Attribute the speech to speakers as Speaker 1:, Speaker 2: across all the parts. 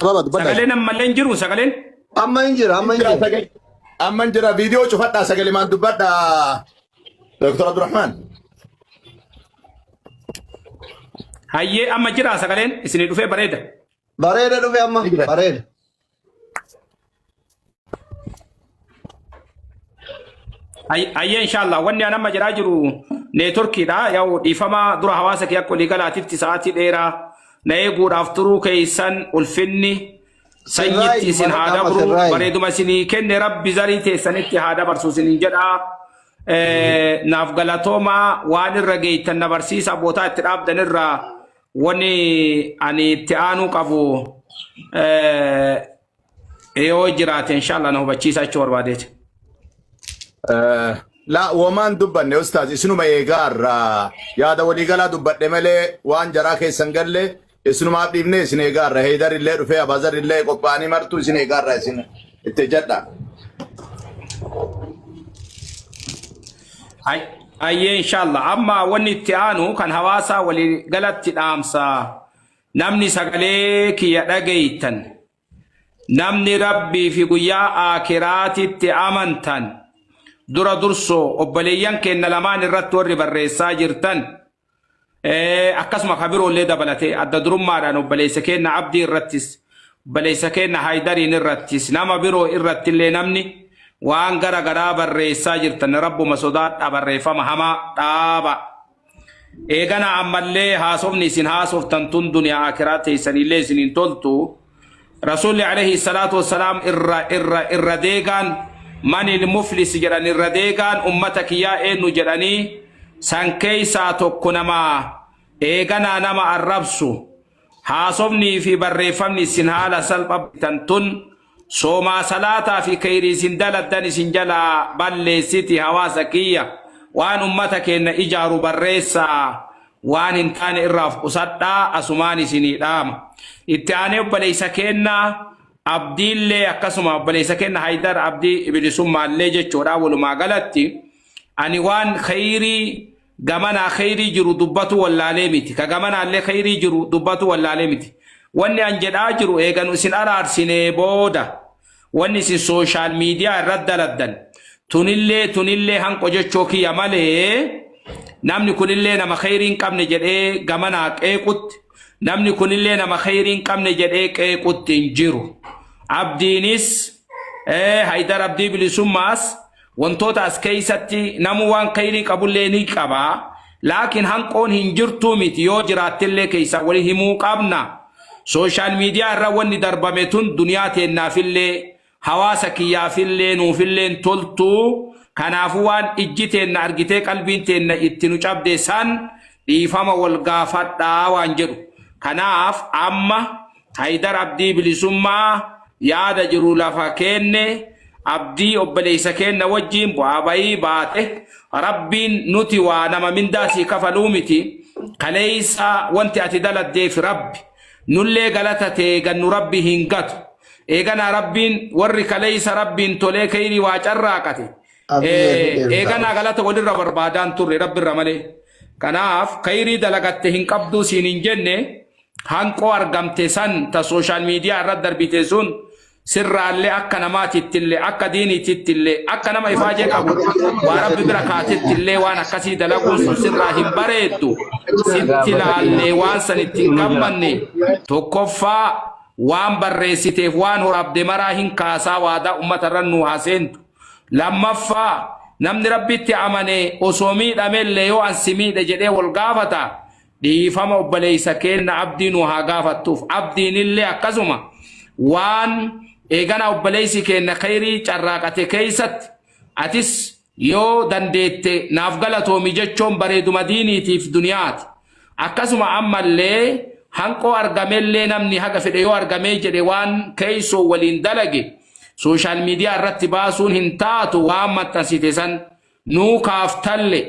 Speaker 1: Ababa dubbadhaa. Sagaleen ammallee hin jiru
Speaker 2: sagaleen. Amma hin jira,
Speaker 1: amma hin Jira jira. sagalee.
Speaker 3: Amma hin jira viidiyoo cufadhaa sagalee maan dubbadhaa. Dr. Abdurrahman.
Speaker 2: Hayyee amma jira sagaleen isinii dhufee bareeda. Bareeda dhufe
Speaker 1: amma, Ni jira. bareeda.
Speaker 2: Ayyee inshaallah wanni an amma jedhaa jiru neetworkiidha yaa'u dhiifama dura hawaasa kee akka walii galaatitti sa'aatii dheeraa na eeguudhaaf turuu keessan ulfinni sanyitti isin haa dabru bareeduma isinii kenne rabbi zarii teessanitti haa dabarsu isinin jedha naaf galatoomaa waan irra geettan na barsiisa bootaa itti dhaabdan irraa Wani ani itti aanuu qabu eh, yoo jiraate inshallah na hubachiisa jechuu barbaadeeti. Eh,
Speaker 3: Laa womaan dubbanne ustaaz isinuma eegaa irraa yaada waliigalaa dubbadhe malee waan jaraa keessan galle isinumaaf dhiifne isin eegaa irra heedar illee dhufee abaazar illee qophaa'anii martuu isin eegaa irraa isin itti jedha.
Speaker 2: Ay- Ayyee inshallah amma wanni itti aanu kan hawaasaa walii galatti dhaamsa namni sagalee kiyya dhageeytan namni rabbii fi guyyaa aakiraatitti amantan dura dursoo obboleeyyan keenna lamaan irratti warri barreessaa jirtan akkasuma ka biroollee dabalatee adda durummaadhaan obboleessa keenna abdii irrattis obboleessa keenna haydariin irrattis nama biroo irrattillee namni waan gara garaa barreessaa jirtan rabbuma sodaadhaa barreeffama hamaa dhaaba eegana ammallee haasofni isin haasoftan tun duniyaa akiraa teessanillee isin hin toltu Rasuulli alayhi salaatu wassalaam irra irra irra deegaan manil muflis jedhan irra deegaan ummata kiyyaa eennu jedhanii san keeysaa tokko nama eeganaa nama arrabsu haasofnii fi barreeffamni isin haala salpha bitan tun soomaa salaataa fi keeyrii isin daladdan isin jalaa balleessiti hawaasa kiyya waan ummata keenna ijaaru barreessaa Waan hin taane irraa of qusadhaa asumaan isinii dhaama. Itti aanee obboleessa keenna Abdiillee akkasuma obboleessa keenna Haydar Abdii Bilisummaallee jechuudha walumaa galatti ani waan kheyrii gamanaa kheyrii jiru dubbatu wallaalee miti ka gamanaallee kheyrii jiru dubbatu wallaalee miti wanni an jedhaa jiru eeganu isin araarsinee booda Wanni isin social media irratti daladdan tunillee tunillee hanqo jechoo kiyya malee namni kunillee nama kheyrii hin qabne jedhee gamanaa qeequtti namni kunillee nama kheyrii hin qabne jedhee qeequtti hin jiru. Abdiinis eh, Haydar Abdii Bilisummaas Wantoota as keessatti namuu waan kheeyrii qabullee ni qaba, laakiin hanqoon hin jirtuu miti yoo jiraattellee keessaa wali himuu qabna. Social media irra wanni darbame tun duniyaa teennaafillee, hawaasa kiyyaafillee, nuufillee hin toltu, kanaafuu waan ijji teenna argitee qalbiin teenna itti nu cabde san dhiifama wal gaafadhaa waan jedhu. Kanaaf amma Haydar Abdii Bilisummaa yaada jiru lafa keenne abdii obboleessa keenna wajjiin bu'aa bayii baate rabbiin nuti waa nama mindaa sii kafaluu miti kaleessa wanti ati daladdeef rabbi nullee galata tee gannu rabbi hin gatu eeganaa rabbiin warri kaleessa rabbiin tolee keyrii waa carraaqate Abdiyee hin dheertaa'u. eeganaa galata walirra barbaadaan turre rabbi irra malee kanaaf keyrii dalagatte hin qabduu siin hin jenne Hanqoo argamte san ta social media irra darbite sun sirraalle akka namaatittille akka diiniitittille akka nama ifaajee qabu waa rabbi bira kaatittillee waan akkasii dalaguun sun sirraa hin bareeddu sitti laallee waan san itti hin gammanne tokkoffaa waan barreessiteef waan horaabde maraa hin kaasaa waadaa ummata irra nu haa seentu lammaffaa namni rabbitti amane osoo miidhamellee yoo ansi miidhe jedhee wal gaafata Dhiifama obboleessa keenna Abdii nu haa gaafattuuf. Abdiinillee akkasuma waan eegana obboleessi keenna kheyrii carraaqate keessatti atis yoo dandeette naaf galatoomi jechoon bareeduma diiniitiif duniyaati. Akkasuma ammallee hanqoo argamellee namni haga fedhe yoo argamee jedhe waan keessoo waliin dalage sooshaal miidiyaa irratti baasuun hin taatu waan maxxansite san Nuu kaaftalle,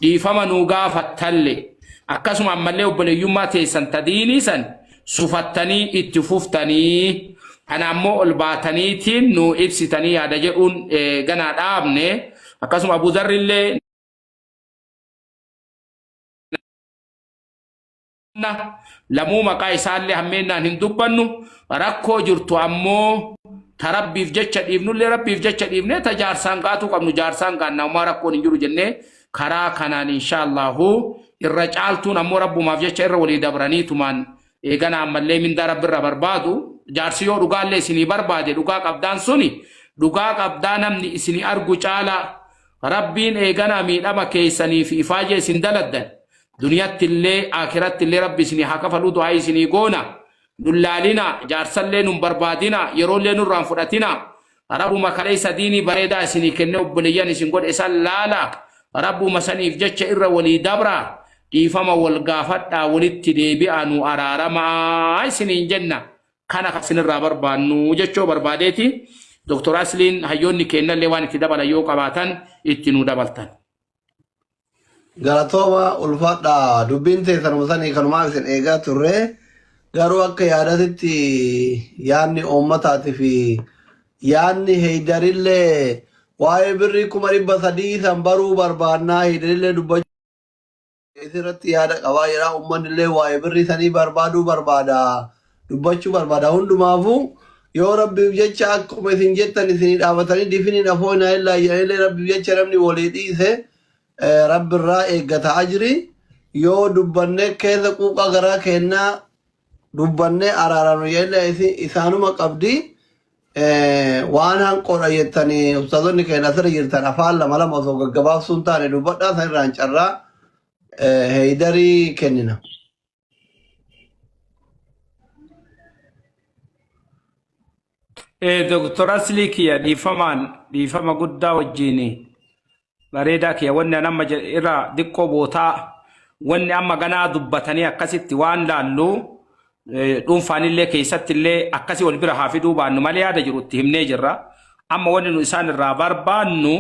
Speaker 2: dhiifama nuu gaafattalle, akkasuma ammallee obboleeyyummaa teessan ta diinii san sufattanii itti fuftanii, kana ammoo ol baataniitiin nuu ibsitanii yaada jedhuun ganaa dhaabne, akkasuma Abu Dharrillee. lamuu maqaa isaallee hammeennaan hin dubbannu rakkoo jirtu ammoo ta rabbiif jecha dhiifnullee rabbiif jecha dhiifnee ta jaarsaan gaatuu qabnu jaarsaan gaannaa umaa rakkoon hin jiru jennee karaa kanaan inshaallahu irra caaltuun ammoo rabbumaaf jecha irra walii dabranii tumaan eegana ammallee mindaa rabbirra barbaadu jaarsi yoo dhugaallee isinii barbaade dhugaa qabdaan suni dhugaa qabdaa namni isinii argu caalaa rabbiin eegana miidhama keessaniif ifaajee isin daladdan Duniyaattillee Aakhirattillee Rabbi isinii haa kafaluu du'aa'ii isinii goona. Nun laalinaa, jaarsallee nun barbaadinaa, yeroollee nurraa hin fudhatinaa. Rabbuma kaleessa diinii bareedaa isinii kennee obboleeyyan isin godhe san laalaa. Rabbuma saniif jecha irra walii dabraa. Dhiifama wal gaafadhaa, walitti deebi'aa, nuu araarama'a isiniin jenna. Kana kan isinirraa barbaannu jechuu barbaadeeti. Doktor Asliin hayyoonni keennallee waan itti dabalan yoo qabaatan itti nuu dabaltan. Galatooma
Speaker 1: ulfaadha dubbiin teessanuma sanii kanumaa isin eegaa turre garuu akka yaadatitti yaadni uummataatii fi yaadni heeydarillee waa'ee birrii kuma dhibba sadii san baruu barbaannaa heeydarillee dubbachuu isirratti yaada qabaa jedha uummanni illee waa'ee birrii sanii barbaaduu barbaada dubbachuu barbaada hundumaafuu yoo rabbiif jecha akkuma isin jettan isinii dhaabatanii difiniin afoo hin haayillaa jedhanillee rabbiif jecha namni walii dhiise eh, rabbi irraa eeggata ajri yoo dubbanne keessa quuqaa garaa keennaa dubbanne araaraan jedhanillee isin- isaanuma qabdi Eh, waan hanqoodha jettanii ustaazonni keenya asirra jirtan afaan lama lama osoo gaggabaabsuun taane dubbadhaa sanirraan carraa eh, heeydarii kennina.
Speaker 2: Eh, Dr. Asli kiyya dhiifamaan dhiifama guddaa wajjini bareedaa kiyya wanni an amma jedhe irraa diqqoo bootaa wanni amma ganaa dubbatanii akkasitti waan laallu eh, dhuunfaanillee keessattillee akkasii wal bira haa fiduu baannu malee yaada jiru itti himnee jirra. Amma wanni nu isaan irraa barbaannu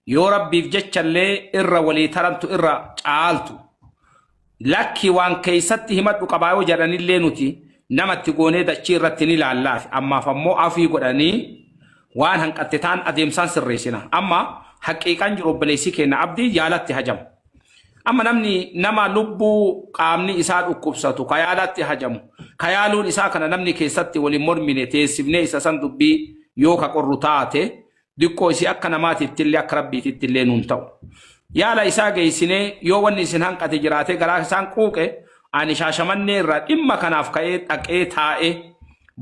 Speaker 2: yoo rabbiif jechallee irra walii tarantu irra caaltu. Lakki waan keessatti himadhu qabaa yoo jedhanillee nuti nama itti goonee dachii irratti ni laallaafi. Ammaaf ammoo afii godhanii waan hanqatte taan adeemsaan sirreessina. Amma haqiiqaan jiru obboleessi keenya Abdii yaalatti hajamu. Amma namni nama lubbuu qaamni isaa dhukkubsatu ka yaalatti hajamu ka yaaluun isaa kana namni keessatti waliin mormine teessifnee isa san dubbii yoo ka qorru taate diqqoo isii akka namaatittillee akka rabbiitittillee nuun ta'u yaala isaa geessinee yoo wanni isin hanqate jiraatee garaa isaan quuqe ani shaashamannee irraa dhimma kanaaf ka'ee dhaqee taa'ee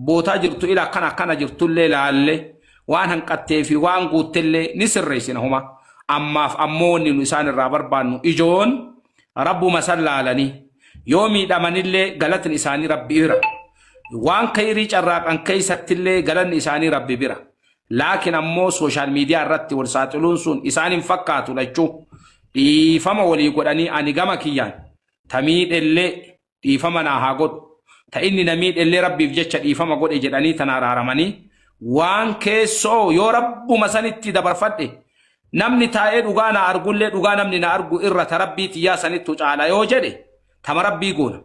Speaker 2: bootaa jirtu ila akkana akkana jirtullee laalle waan hanqattee fi waan guuttellee ni sirreessina homa ammaaf ammoo wanni nu isaan irraa barbaannu ijoon rabbuma san laalanii yoo miidhamanillee galatni isaanii rabbi bira waan kayrii carraaqan keessattillee galanni isaanii rabbi bira Laakin ammoo social media irratti wal saaxiluun sun isaan hin fakkaatu lachuu dhiifama walii godhanii ani gama kiyyaan ta miidhellee dhiifama naa haa godhu ta inni na miidhellee rabbiif jecha dhiifama godhe jedhanii tan araaramanii waan keessoo yoo rabbuma sanitti dabarfadhe namni taa'ee dhugaa naa argullee dhugaa namni na argu irra ta rabbii tiyyaa sanittu caala yoo jedhe Tama rabbii goona.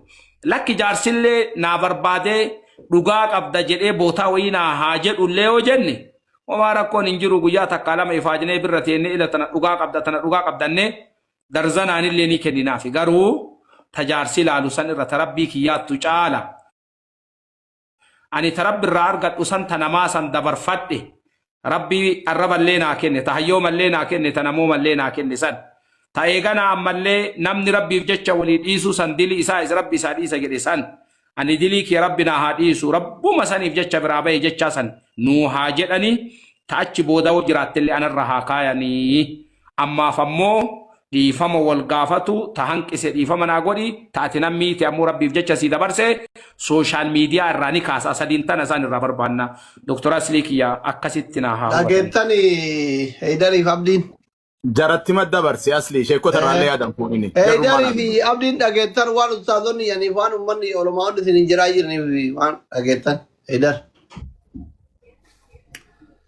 Speaker 2: Lakki jaarsillee naa barbaadee dhugaa qabda jedhee bootaa wayii naa haa jedhullee yoo jenne homaa rakkoon hin jiru guyyaa takkaa lama ifaajnee birra teennee ila tana dhugaa qabda tana dhugaa qabdannee darzanaanillee ni kenninaafi garuu ta jaarsi laalu san irra ta rabbii kiyyaattu caala. Ani ta Rabbi irraa argadhu san ta namaa san dabarfadhe, Rabbi arraballee naa kenne, ta hayyoomallee naa kenne, ta namoomallee naa kenne san. Ta eeganaa ammallee namni Rabbiif jecha wolii dhiisuu san dili isaa is Rabbi isaa dhiisa jedhe san. Ani dilii kiyya Rabbi naa haa dhiisu, Rabbuma saniif jecha biraa baye jechaa san nuu haa jedhanii, ta achi booda wo jiraattellee anarra haa kaayanii. Ammaaf ammoo dhiifama wal gaafatu ta hanqise dhiifama naa godhi, ta ati nan miite ammoo Rabbiif jecha sii dabarse social media irraa ni kaasa sadiin tana isaan irraa barbaanna. Doktar Aslii kiyya akkasitti naa haa hubatan. Dhageettani
Speaker 1: Heydariif Abdiin. Jarattima
Speaker 3: dabarsi Aslii sheekkota irraallee yaadan fuudhini. Jarrummaa Heydari naa fi dubbisa.
Speaker 1: Abdiin dhageettan waan ustaazonni yaniif waan ummanni olomaa'onni isin hin jiraa jiraniif waan dhageettan. Heydar.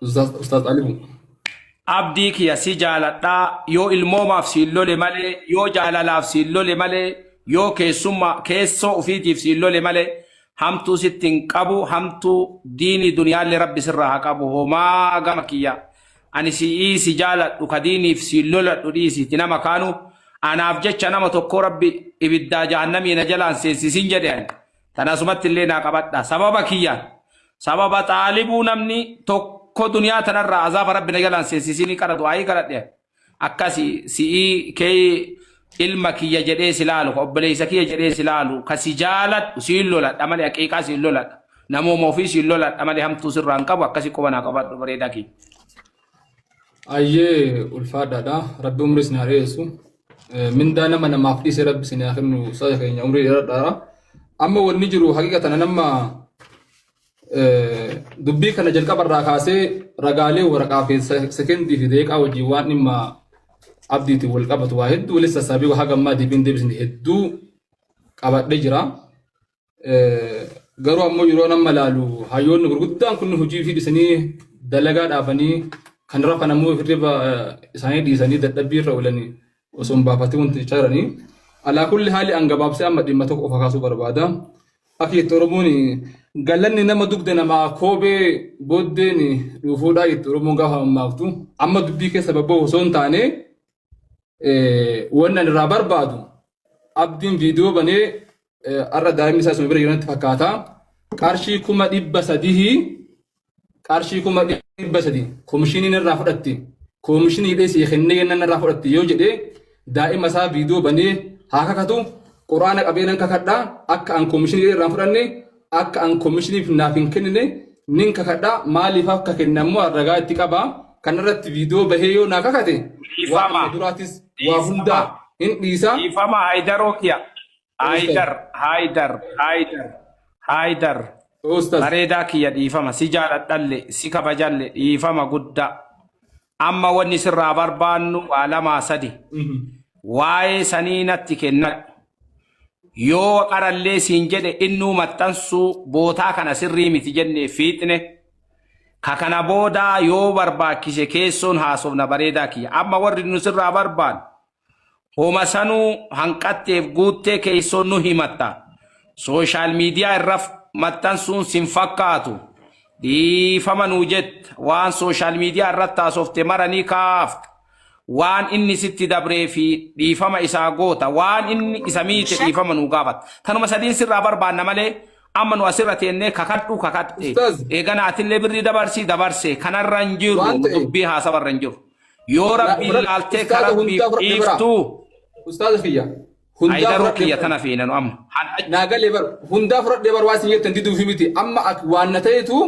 Speaker 4: Ustaaz Ustaaz Alimu. Abdii
Speaker 2: kiyya si jaaladhaa yoo ilmoomaaf siin lole malee yoo jaalalaaf siin lole malee yoo keessummaa keessoo ofiitiif siin lole malee hamtuu sitti hin qabu hamtuu diinii duniyaallee rabbi sirraa haa qabu homaa gama kiyya ani si'ii si jaaladhu ka diiniif siin loladhu dhiisiiti nama kaanu anaaf jecha nama tokkoo rabbi ibiddaa jahannamii na jalaan seensisin jedhe ani. Tana asumatti illee naa qabadhaa. Sababa kiyyaan, sababa xaalibuu namni tokko duniyaa tana irraa azaaba Rabbi na jalaan seensisinii qara du'aayii kadhadhe ani. Akka si, si'ii kee ilma kiyya jedhee si laalu, ka obboleessa kiyya jedhee si laalu, ka si jaaladhu siin loladha malee haqiiqaa siin loladha. Namooma ofii siin loladha malee hamtuu sirraa hin qabu akkasi quba naa qabadhu bareedaa kiyya. Ayyee
Speaker 4: ulfaadhaadha. Rabbi umrii isin haa dheeressu. Eh, Mindaa nama namaaf dhiise rabbi isin haa kennu saja keenya umrii dheeradhaara. Amma wanni jiru haqiqa tana nama eh, dubbii kana jalqaba irraa kaasee ragaalee waraqaa fi se- sekendii fi deeqaa wajjin waan dhimma abdiitiin wal qabatu waa hedduu walitti sassaabii haga ammaa deebiin deebisni hedduu qabadhee jira. Garuu ammoo yeroon amma ilaalu hayyoonni gurguddaan kun hojii fi dhisanii dalagaa dhaabanii kan rafan ammoo hirriba isaanii dhiisanii dadhabbii irra oolanii osoo hin baafatiin wanti jechaa jiranii. Alaa kulli haali an gabaabsee amma dhimma tokko qofa kaasuu barbaada. Akka jetti Oromoon galanni nama dugda namaa koobee booddeen dhuufuudhaa jetti Oromoon gaafa mammaaktu. Amma dubbii keessa babba'u osoo hin taane wannan irraa barbaadu abdiin viidiyoo banee har'a daa'imni isaa suma bira jiranatti fakkaata qarshii kuma dhibba sadihii qarshii kuma dhibba sadii komishiniin irraa fudhatti komishinii dhees kennee yennan irraa fudhatti yoo jedhe daa'ima isaa viidiyoo banee haa kakatu quraana qabeenan kakadha akka an komishinii irraa fudhanne akka an komishiniif naaf hin kennine nin kakadha maaliif akka kenne ammoo an ragaa itti qaba kanarratti viidiyoo bahee yoo naa kakate waan Dhiifama. amma duraatis waa Dhiifama. hundaa hin dhiisa Dhiifama Haayidaroo
Speaker 2: kiya. Haayidar, Haayidar, Haayidar, Haayidar. Ustaz. Bareedaa kiyya dhiifama. Si jaaladhalle, si kabajalle dhiifama guddaa. Amma wanni sirraa barbaannu waa lamaa sadi. Waa'ee sanii natti kennadhu. Yoo waqarallee siin jedhe innuu maxxansuu bootaa kana sirrii miti jennee fiixne. Ka kana boodaa yoo barbaachise keessoon haasofna bareedaa kiyya. Amma warri nu sirraa barbaannu Homa sanuu hanqatteef guuttee keessoo nu himatta. Sooshaal miidiyaa irra maxxansuun sin fakkaatu. Dhiifama nuu jetta. Waan sooshaal miidiyaa irratti haasofte mara ni kaafta. Waan inni sitti dabree fi dhiifama isaa goota. Waan inni isa miite dhiifama nuu gaafatta. Tanuma sadiin sirraa barbaanna malee amma nu asirra teennee kakadhu kakatte. Ustaaz. Eegana atillee birrii dabarsi dabarse. Kanarra hin jiru. Waan ta'eef. Dubbii haasawa irra hin jiru. Yoo rabbiin Fudhadhu, laaltee ka ustaaza rabbiif hundaa fudhadhu biraa. dhiiftu Ustaaza
Speaker 4: kiyya. Hundaa ayidaruu fudhadhu. kiyya
Speaker 2: tana fiinanu amma. Hadha naa galee bar
Speaker 4: hundaa fudhadhee bar waa isin jettan diduufi miti amma ak waan na ta'etu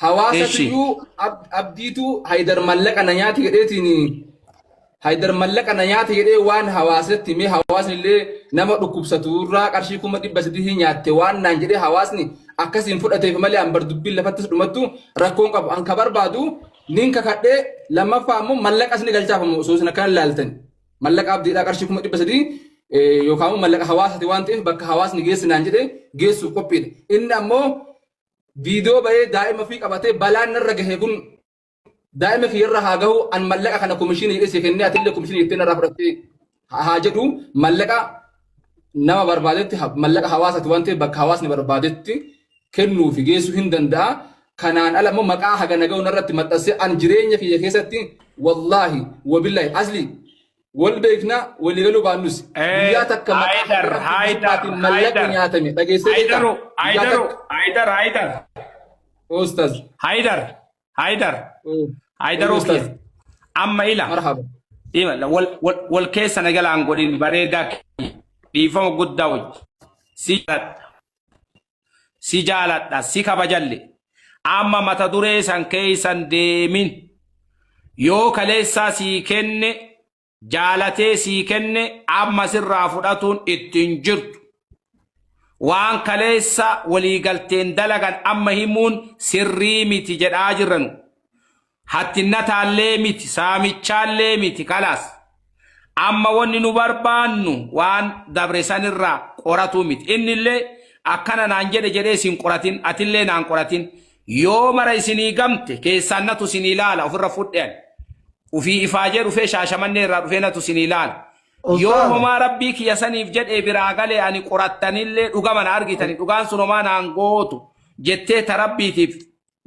Speaker 4: hawaasa Eshi. tiyyuu ab- abdiitu haydar mallaqa na nyaate jedheetiin haydar mallaqa na nyaate jedhee waan hawaasatti mee hawaasni illee nama dhukkubsatu irraa qarshii kuma dhibba sadii nyaatte waan naan jedhee hawaasni akkasiin fudhateef malee an bar dubbiin lafattis dhumattu rakkoon qabu an ka barbaadu Nin kakadhee lammaffaa ammoo mallaqas ni galchaaf ammoo osoo isin akkana ilaaltan. Mallaqa abdiidhaa qarshii kuma dhibba sadii eh, yookaan ammoo mallaqa hawaasati waan ta'eef bakka hawaasni geessi naan jedhee geessuuf qophiidha. Inni ammoo viidiyoo bahee daa'ima ofii qabatee balaan narra gahe kun daa'ima kiyyarra haa gahu an mallaqa kana komishinii jedhee si kennee atillee komishinii jettee narraa fudhattee ha- haa jedhu mallaqa nama barbaadetti ha- mallaqa hawaasati waan ta'eef bakka hawaasni barbaadetti kennuu fi geessuu hin danda'a. Kanaan ala immoo maqaa haga naga'u narratti maxxansee an jireenya kiyya keessatti wallaahi wabillahi asli wal beekna walii galuu baannus Eh, guyyaa takka maqaa Haydar, haga rabbi Haydar, gubbaatiin mallaqa Haydar. nyaatame dhageessee beektaa? Haydaru, Guyyaa Haydaru, takka Haydar, Haydar, Ustaz.
Speaker 2: Haydar. Haydar. Ee, Haydar Wayyo Okiya. Ustaaz. Amma ila. Marhaba. Ima wal wal wal keessa na jalaan godhin bareedaa kiyya. dhiifama guddaa wajji. Si jaaladha. Si jaaladha. Si kabajalle. Amma mata duree san keessan deemin. Yoo kaleessaa sii kenne jaalatee sii kenne amma sirraa fudhatuun itti hin jirtu. Waan kaleessa walii galteen dalagan amma himuun sirrii miti jedhaa jirra nu. Hattinnataallee miti, saamichaallee miti kalaas. Amma wanni nu barbaannu waan dabre sanirraa qoratuu miti. Innillee akkana naan jedhe jedhee isin qoratin, atillee naan qoratin. Yoo mara isinii gamte keessaan natu isinii laala ofirra fudhe ani. Ufii ifaajee dhufee shaashamannee irraa dhufee natu isinii laala. Yoo Ustaaza. homaa rabbii kiyya saniif jedhee biraa galee ani qorattanillee dhugama na argitani dhugaan sun homaa naan gootu jettee ta rabbiitiif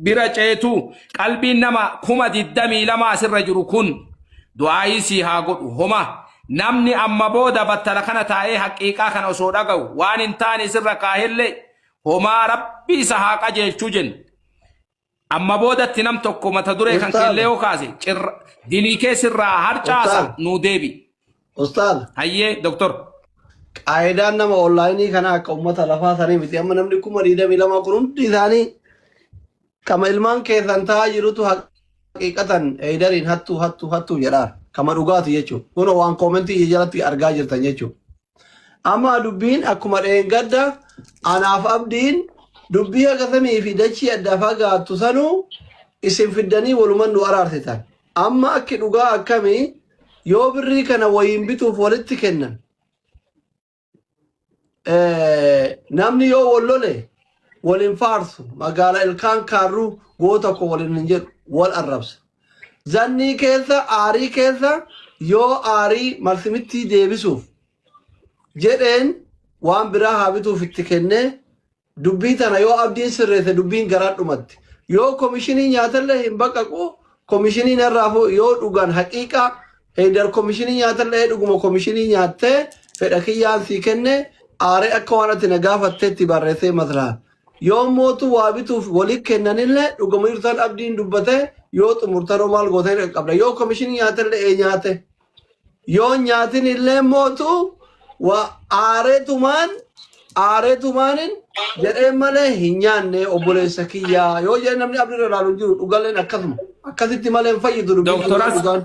Speaker 2: bira ceetu qalbiin nama kuma digdamii lama asirra jiru kun du'aayii sii haa godhu homa namni amma booda battala kana taa'ee haqiiqaa kana osoo dhaga'u waan hin taane isirra kaahellee homaa rabbii isa haa qajeelchuu jenna. Amma boodatti nam tokko mata duree kan Ustaaza. keellee yoo kaase cirra dilii kee sirraa harcaasa Ustaaza. nuu deebi. Ustaaz,
Speaker 1: Hayyee doktor.
Speaker 2: qaayidaan
Speaker 1: nama onlaayinii kana akka uummata lafaa sanii miti. Amma namni kuma digdamii lama kun hundi isaanii kama ilmaan keessan ta'aa jirutu haqiiqatan eedariin hattuu hattuu hattuu jedhaan kama dhugaatu jechuudha. Kun waan koomentii jalatti argaa jirtan jechuudha. Amma dubbiin akkuma dheengadda anaaf abdiin dubbii haga samii fi dachii adda fagaattu sanuu isin fiddanii waluman nu araarsitan. Amma akki dhugaa akkami yoo birrii kana wayiin bituuf walitti kennan. Eh, Namni yoo wal lole wal hin faarsu magaala ilkaan kaarruu goota koo waliin hin jedhu wal arrabsa. Zannii keessa, aarii keessa yoo aarii malsimittii deebisuuf jedheen waan biraa haa bituuf itti kennee dubbii tana yoo abdiin sirreesse dubbiin garaan dhumatti. Yoo komishinii nyaatallee hin baqaqu komishiniin irraafu yoo dhugan haqiiqaa heydar komishinii nyaatallee dhuguma komishinii nyaattee fedha kiyyaan sii kenne aaree akka waan ati na gaafatteetti barreessee maslaha. Yoo mootu waa bituuf wali kennanillee dhuguma jirtan abdiin dubbate yoo xumurtaroo maal goota hin qabda yoo komishinii nyaatellee ee nyaate yoo nyaatin illee mootu waa aareetumaan aareetumaanin jedhee malee hin nyaanne obboleessa kiyyaa yoo jedhe namni abdirra ilaalu hin jiru dhugalleen akkasuma akkasitti malee hin fayyidu dubbiin Doktoras dhugaan.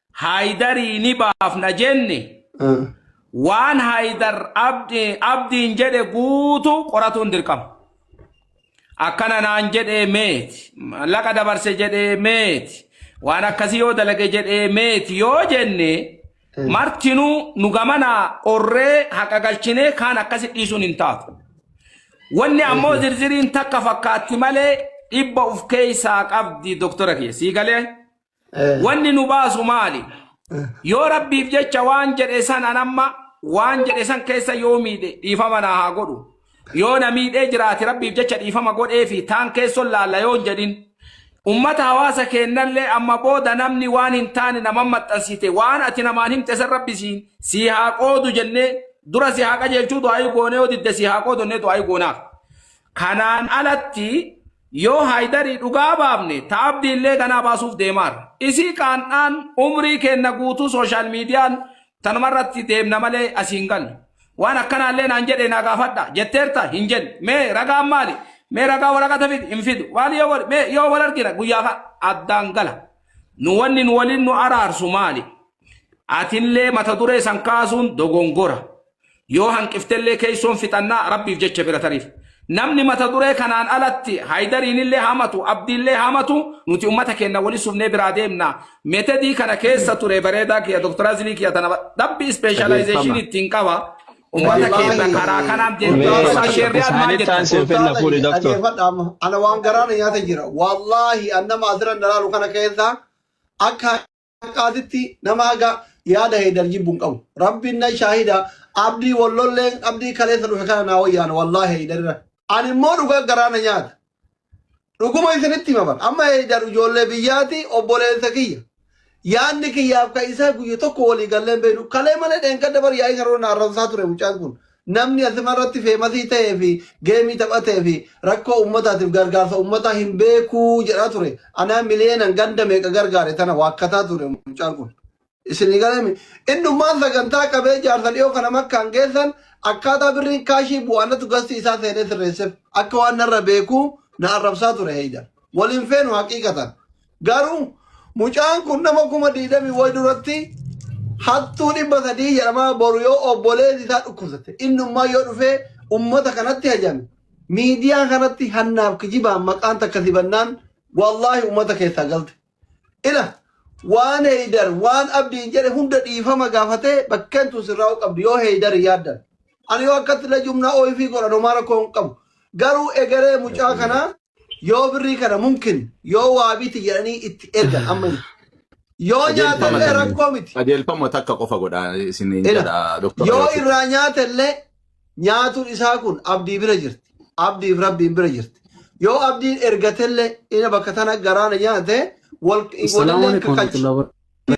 Speaker 2: Haayidarii ni baafna jenne Ah. waan Haayidar Abdi- Abdiin jedhe guutuu qoratuun dirqama. Akkana naan jedhee meeti, mallaqa dabarse jedhee meeti, waan akkasii yoo dalage jedhee meeti yoo jenne martinuu nu gamanaa qorree haqa galchinee kaan akkasi dhiisuun hin taatu. Wanni ammoo zirziriin takka fakkaatti malee dhibba of keessaa qabdi doktora kiyya. Sii galee? Wanni nu baasu maali? Yoo rabbiif jecha waan jedhe san an amma waan jedhe san keessa yoo miidhe dhiifama naa haa godhu. Yoo na miidhee jiraate rabbiif jecha dhiifama godhee fi taan keessoon laalla yoo hin jedhin. Ummata hawaasa keennallee amma booda namni waan hin taane naman maxxansite waan ati namaan himte san rabbi siin sii haa qoodu jennee dura si haa qajeelchuu du'aayii goonee yoo didde sii haa qoodu jennee du'aayii goonaaf. Kanaan alatti Yoo Haydarii dhugaa baafne ta Abdiillee ganaa baasuuf deemaarra. Dhisii qaan'aan umrii keenna guutuu social median tanumarratti deemna malee asii hin gallu. Waan akkanaallee naan jedhee naa gaafadhaa? Jetteerta? Hin jenne. Mee ragaan maali? Mee ragaa waraqata fidi? Hin fidu. Maali yoo godhe? Mee yoo wal argina guyyaa ka addaan gala. Nu wanni nu waliin nu araarsu maali? Atillee mata duree san kaasuun dogongora. Yoo hanqiftellee keessoon fixannaa Rabbiif jecha bira tariif. Namni mata duree kanaan alatti Haydariinillee hamatu, Abdiillee hamatu nuti ummata keenna wali subnee biraa deemna. Metedii kana keessa ture bareedaa kiyya Dr. Azilii kiyya tana rabbi ispeeshalaayzeeshinii ittiin qaba. Ummata keenna karaa kanaan deemna. Mee Dr. Sheerriyaad maal isaanitti jettan? aansee fenna fuudhi Ustaaza, doktor.
Speaker 1: dhageeffadha amma. Ana waan garaa na nyaata jira. Wallaahi, an nama asirra na laalu kana keessa akka haqaatitti nama haga yaada heedar jibbu hin qabu rabbiin nan shaahida abdii wallolleen abdii kaleessa dhufe kana naa wayyaan wallaahi heedarra ani immoo dhugaa garaa na nyaata dhuguma isinitti himaman amma heedar ijoollee biyyaati obboleessa kiyya yaanni kiyyaaf kan isaa guyya tokko walii galleen beenu kalee malee dheengadda bar yaa'ii saroo na arrabsaa ture mucaan kun Namni asimarratti feemasii ta'ee fi geemii taphatee fi rakkoo uummataatiif gargaarsa uummataa hin beekuu jedhaa ture. Anaa miliyeenan ganda meeqa gargaare tana waakkataa ture mucaan kun. Isinii galame. Innummaan sagantaa qabee jaarsa dhiyoo kana makkaan geessan akkaataa birriin kaashii bu'aanatu gastii isaa seenee sirreessef. Akka waan narra beekuu na arrabsaa ture heeydan. Wal hin feenu haqiiqatan. Garuu mucaan kun nama kuma diidamii wayi duratti hattuu dhibba sadii jedhamaa boru yoo obboleessi isaa dhukkubsate innummaa yoo dhufee ummata kanatti hajame miidiyaa kanatti hannaaf kijibaan maqaan takka sibannaan wallaahi ummata keessaa galte. Ila waan heeydar waan abdiin jedhe hunda dhiifama gaafatee bakkeen tun sirraa'uu qabdi yoo heeydar yaaddan. Ani yoo akkatti na jumnaa OIV godhan homaa rakkoo hin qabu. Garuu egeree mucaa Rabbiin kana yoo birrii kana mumkin yoo waabiiti jedhanii itti ergan amma hin. Yoo qajeelfama nyaatellee kan rakkoo miti. qajeelfama takka qofa
Speaker 3: godha isiniin Ila jedha doktora yoo Yoosin. irraa nyaatellee
Speaker 1: nyaatuun isaa kun abdii bira jirti. Abdiif rabbiin bira jirti. Yoo abdiin ergatellee ina bakka tana garaana nyaate
Speaker 5: wal
Speaker 1: Assalamu walillee alaikum
Speaker 5: kakkalchi.
Speaker 1: warahmatullahi wabarakatuh.